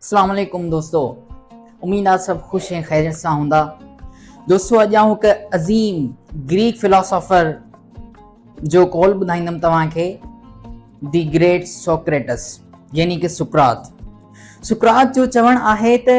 اسلام عليڪم دوستو اميد آ سڀ خوش ۽ خيريت سان هوندا دوستو اڄ آئون هڪ عظيم گريڪ فلاسافر جو قول ٻڌائيندم توهان کي دي گريٽ سوڪريٽس يعني ڪي سڪرات سڪرات جو چوڻ آهي ته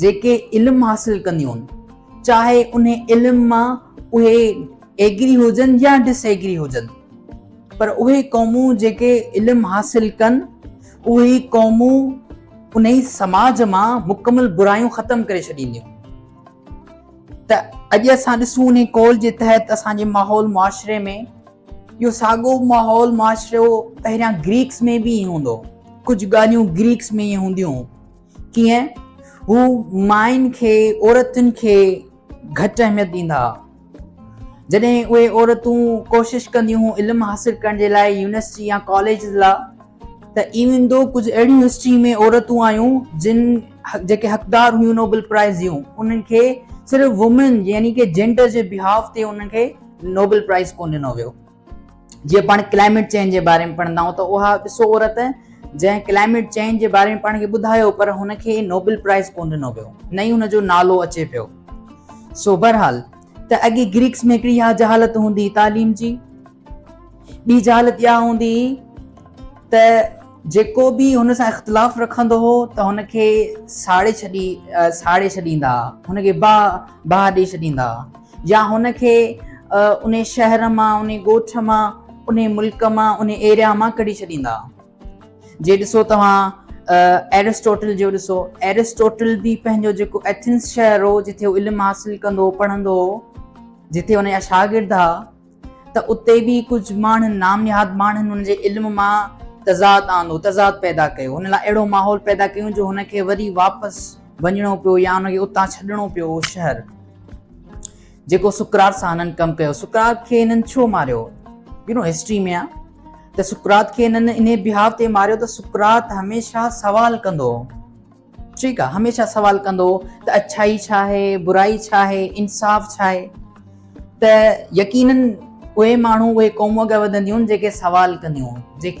جيڪي علم حاصل ڪنديون هن چاهي انهي علم مان اهي ايگري هجن يا ڊس ايگري هجن پر اهي قومون جيڪي علم حاصل ڪن اهي قومون انهي سماج مان مڪمل برايون ختم ڪري ڇڏينديون ته اڄ اسان ڏسون انهي قول جي تحت اسان جي ماحول معاشري ۾ اهو ساڳو ماحول معاشرو پهريان گريڪس ۾ به ائين هوندو هو ڪجهه ڳالهيون گريڪس ۾ ائين هونديون ڪيئن؟ هو ماين کي، عورتن کي گهٽ اهميت ڏيندا ها. جڏهن اهي عورتون ڪوشش ڪنديون هيون علم حاصل ڪرڻ جي لاء يونيورسٽي يا ڪاليجز لا ته ايون ٿو ڪجهه اهڙيون هسٽري ۾ عورتون آيون جن جيڪي حقدار هيون نوبل پرائز جون انهن کي صرف وومين يعني ڪي جينڊر جي بيهاف تي انهن کي نوبل پرائز ڪونه ڏنو ويو. جيئن پاڻ ڪلائميٽ چينج جي باري ۾ پڙهندا آهيون ته اها ڏسو عورت جنهن ڪلائميٽ چينج جي باري ۾ پاڻ کي ٻڌايو پر هن کي نوبل پرائز ڪونه ڏنو ويو نه ئي هن جو نالو اچي پيو سو بهرحال ته اڳي گريڪس ۾ هڪڙي اها جهالت هوندي تعليم جي ٻي جهالت اها هوندي ته جيڪو به هن سان اختلاف رکندو هو ته هن کي ساڙي ڇڏي ساڙي ڇڏيندا هن کي باهه باهه ڏيئي ڇڏيندا يا هن کي انهي شهر مان، انهي ڳوٺ مان، انهي ملڪ مان، انهي ايريا مان ڪڍي ڇڏيندا. جي ڏسو توهان ايرسٽوٽل جو ڏسو، ايرسٽوٽل به پنهنجو جيڪو ايٿنس شهر هو، جتي هو علم حاصل ڪندو هو، پڙهندو هو، جتي هن جا شاگرد ها، ته اتي به ڪجهه ماڻهن، نامنهاد ماڻهن، هن جي علم مان تضاد آندو، تضاد پيدا ڪيو، هن لاء اهڙو ماحول پيدا ڪيون جو هن کي وري واپس وڃڻو پيو يا هن کي اتان ڇڏڻو پيو اهو شهر جيڪو سقراط سان هنن ڪم ڪيو. سقراط کي هنن ڇو ماريو؟ يو نو هسٽري ۾ آ ته سقراط کي هنن انهي بهاء تي ماريو ته سقراط هميشه سوال ڪندو هو. ٺيڪ آ هميشه سوال ڪندو ته اڇائي ڇا آهي برائي ڇا آهي انصاف ڇا آهي ته يقينن اهي ماڻهو اهي قومون اڳيان وڌنديون جيڪي سوال ڪنديون جيڪي